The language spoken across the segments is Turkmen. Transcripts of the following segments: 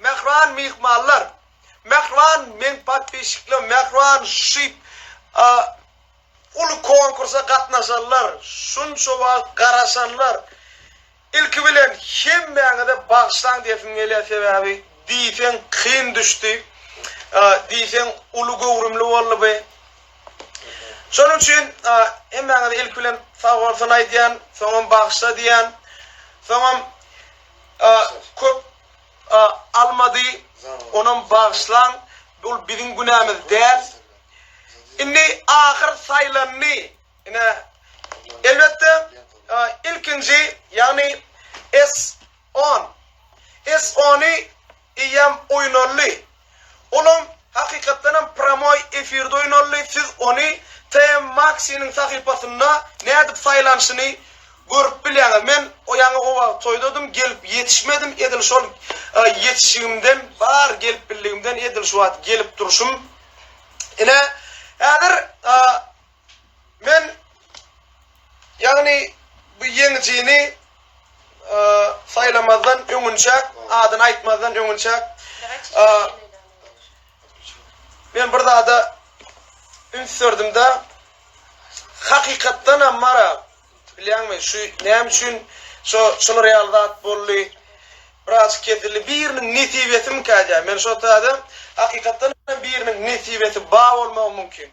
Mähriban myhmanlar Mähriban meň podpisçiklerim Mähriban şyp uly konkursa gatnaşanlar şunça wagt garaşanlar ilki bilen hemmäňize bagyşlaň desim gelýär sebäbi diýseň kyn düşdi diýseň uly göwrümli boldy bu şonuň üçin hemmäňize ilki bilen sagbolsun aýdýan soňam bagyşla diýýän soňam köp almady onam bagyşlaň bul biziň günämiz däl indi ahyr saýlandy ine elbetde ilkinji ýagny S on S ony Eýýäm oýnaldy. Olam, hakykatdanam, pramoý efirde oýnaldy, siz ony TM Maxi-niň sahypasynda nädip saýlanyşyny görüp bilýäňiz. Men ýaňy o wagt toýdadym, gelip ýetişmedim, edil şol ýetişigimden, bar gelip bildigimden edil şu wagt gelip durşum. Ine, häzir. Men ýagny bu ýeňijini saýlamazdan öňünçäk, adyny aýtmazdan öňünçäk men bir zada üns berdim-de, hakykatdan hem bar-a, bilýäňmi, şu näme üçin şo şular ýaly zat boldy, birazajyk kesildi, biriniň nesibesimikä diýýän. Men şo taýda hakykatdan hem biriniň nesibesi bar bolmagy mümkin.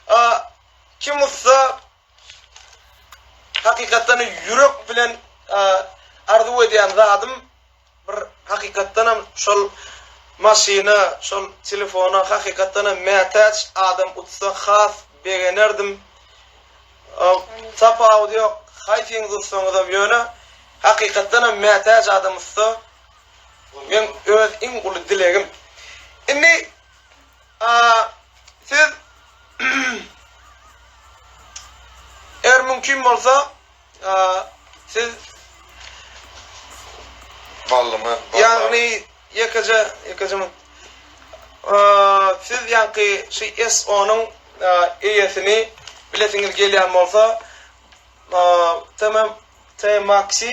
A kim ussa hakykatdan ýürek bilen arzuw edýän zadym bir hakykatdanam şol maşyna şol telefona hakykatdanam mätäç adam utsa has begenerdim tapawudy ýok haýsyňyz utsaňyzam ýöne hakykatdanam mätäç adam utsa men öz iň uly dilegim indi Siz eger mümkin bolsa siz Ballymy ýagny ýekeje ýekeje mün siz ýaňky şy SO-nyň eýesini bilesiňiz gelýän bolsa TM TMaxi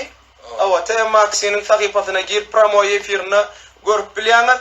owa TMaxi-niň sahypasyna girip pramoý efirinde görüp bilýäňiz.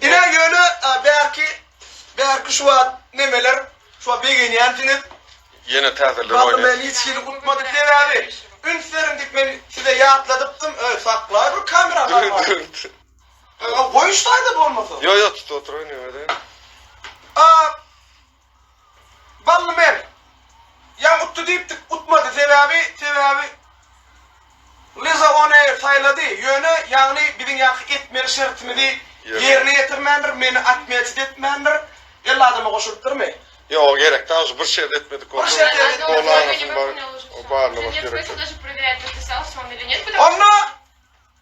Ine ýöne bärki bärki şu wagt nemeler şuňa begenýänsiňiz. Ýene täzeler oýnaýar. Bagym meni hiç hili utmady sebäbi üns beriň diýip men size ýatladypdym öý saklaý bir kamera galmasyn. Goýuşsaýda bolmasa. Ýok ýok tutup oturyň nemede. Bally men. Ýa utdy diýipdik, utmady. Sebäbi, sebäbi Liza ony saýlady. Ýöne, ýagny biziň ýaňky etmeli şertimizi ýerine ýetirmändir, meni otmýaçit etmändir. Elli adama goşulypdyrmy? Ýok, gerek dal, şu bir şert etmedik bolsa, gol aňyrsyn, baryny baş gerek däl. Onda.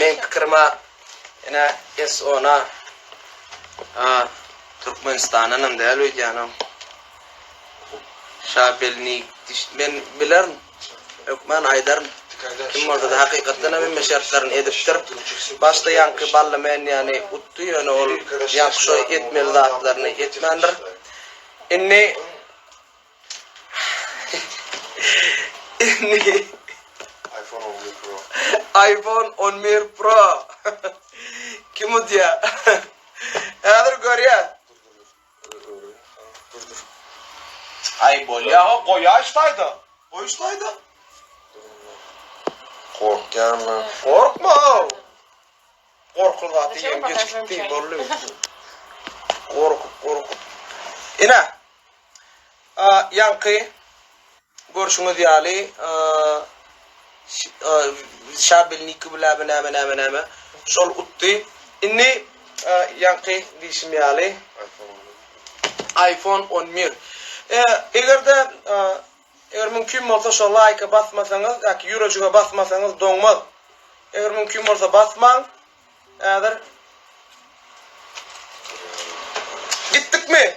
Meň pikirime ene SO-na Türkmenistandanam däl öýdýänem. Şabelnik diş men bilerin. Hökman aýdaryn. Kim bolsa-da hakykatdan hem hemme şertlerini edipdir. Başda ýaňky Bally Menýany utdy, ýöne ol ýaňky şo etmeli zatlaryny etmändir. Indi Indi iPhone on bir pro. iPhone on bir pro. Kim udýar? Häzir görýäs. Aý bolýa ha goýaýyş taýda. Goýuş taýda. Gorkýan lan. Gorkma. Gorkul zady ýeň geçip gitdi bolly. Gorkup gorkup. Ine. A ýaňky Görşüňiz ýaly, şabelniki bu näme näme näme näme. Şol utdy. Indi ýaňky diýşim ýaly iPhone on bir. Eger-de eger mümkin bolsa şo laýka basmasaňyz ýa-ki ýürejige basmasaňyz doňmaz. Eger mümkin bolsa basmaň. Häzir Gitdikmi?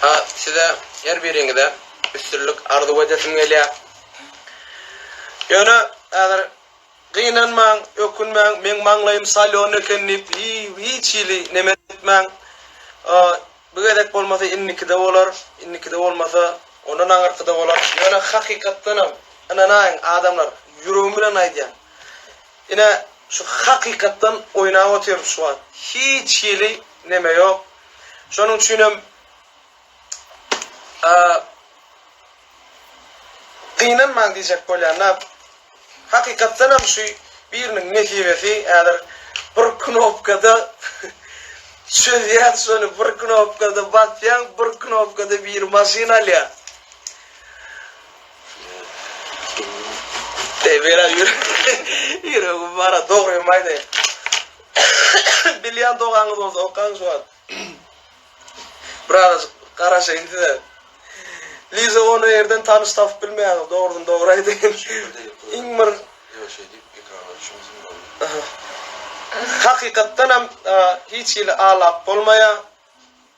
Ha size her biriňize üstünlik arzuw edesim gelýär. Ýöne häzir gynanmaň, ökünmäň, meň maňlaýym salýon eken diýip hiç hili neme etmäň. Bu gezek bolmasa indikide bolar, indikide bolmasa ondan aňyrkyda bolar. Ýöne hakykatdanam ynanaýyň adamlar, ýüregim bilen aýdýan. Ine şu hakykatdan oýnap otyrys şu wagt. Hiç hili neme ýok. Şonuň üçinem gynanmaň diýjek bolýan-da. Hakykatdanam şu biriniň nesibesi häzir bir knopkada çözýän şony bir knopkada basýaň bir knopkada biri maşyn alýar. Ebera ýüregim bara dogrymy aýdaýyn. Bilýän dogaňyz bolsa okaň şu wagt. Birazajyk garaşaýyn size. Liza ony ýerden tanyş tapyp bilmeýäňiz dogrudan dogry aýdaýyn. Iň bir Ýok şeý diýip ekrana düşmesin boldy. Hakykatdanam hiç hili alap bolmaýar.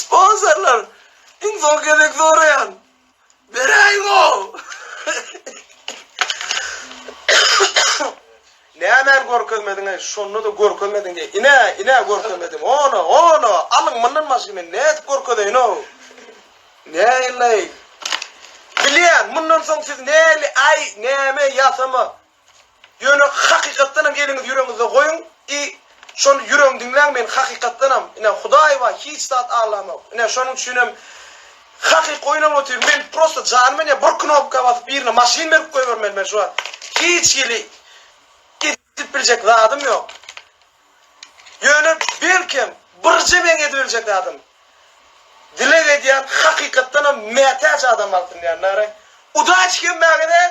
Sponsorlar iň soň gezek soraýan. Beräýiňoo. Nämäni görkezmediňeý şonda-da görkezmediň diýýä ine ine görkezmedim ona ona alyň mundan başga men nädip görkezeýinow näilleý bilýän mundan soň siz näli aý näme ýasama Ýöne hakykatdanam eliňizi ýüregiňizde goýuň i şony ýüregiň diňläň men hakykatdanam ine hudaý bar hiç zat aglamok ine şonuň üçinem hakyky oýnap otyryn men prosta janym ine bir knopka basyp birine maşyn berip goýbermeli men şu wagt hiç hili edip biljek zadym ýok ýöne belkem birje meň edip biljek zadym dileg edýän hakykatdanam mätäç adam alsyn diýän nary udaçi kemmäge däl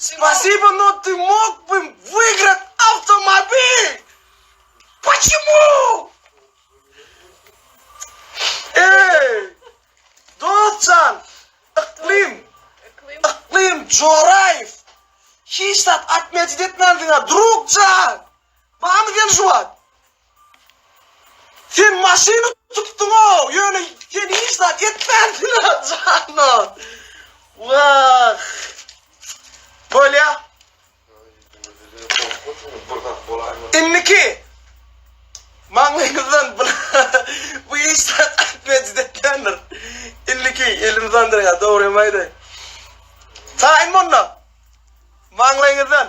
Spasibo no ty mog bym wygrat awtomobil Poçemu Eý Dost jan Yklym Yklym Joraýew Hiç zat atmejit etmänsiňa drug jan Barmy sen şu wagt Sen maşyny tutduňow ýöne sen hiç zat etmänsiňa janan. Wah. Bolýa. Indiki maňlaýyňyzdan bu iş zat aýtmaya jüdetlendir. Indiki elini zandyraýa dogrymy aýdaýyn. Taýyn monda. Maňlaýyňyzdan.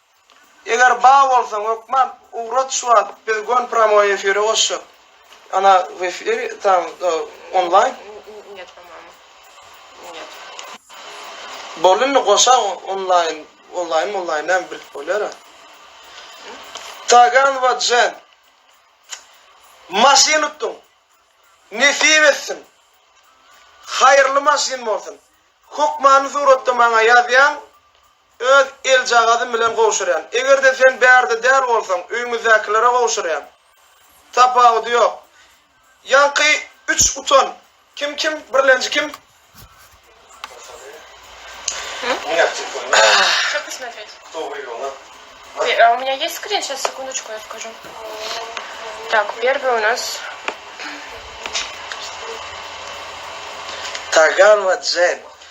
Eger bar bolsaň hökman ugrat şu wagt biz gön pramoý efire goşjak ana w efir tam onlaýn Net tamam net. Boldy indi goşaň onlaýn onlaýn monlaýn näme bilip bolýara Taganowa Jen maşyn utdyň nesip etsin haýyrly maşyn bolsun hökmany suratda maňa ýazýaň Öz eljagazym bilen gowşurýan. Eger-de sen bärde däl bolsaň, öýümizdäkilere gowşurýan. Tapawudy ýok. Ýaňky üç utan. Kim, kim? Birlenji kim? Tagan we Jen.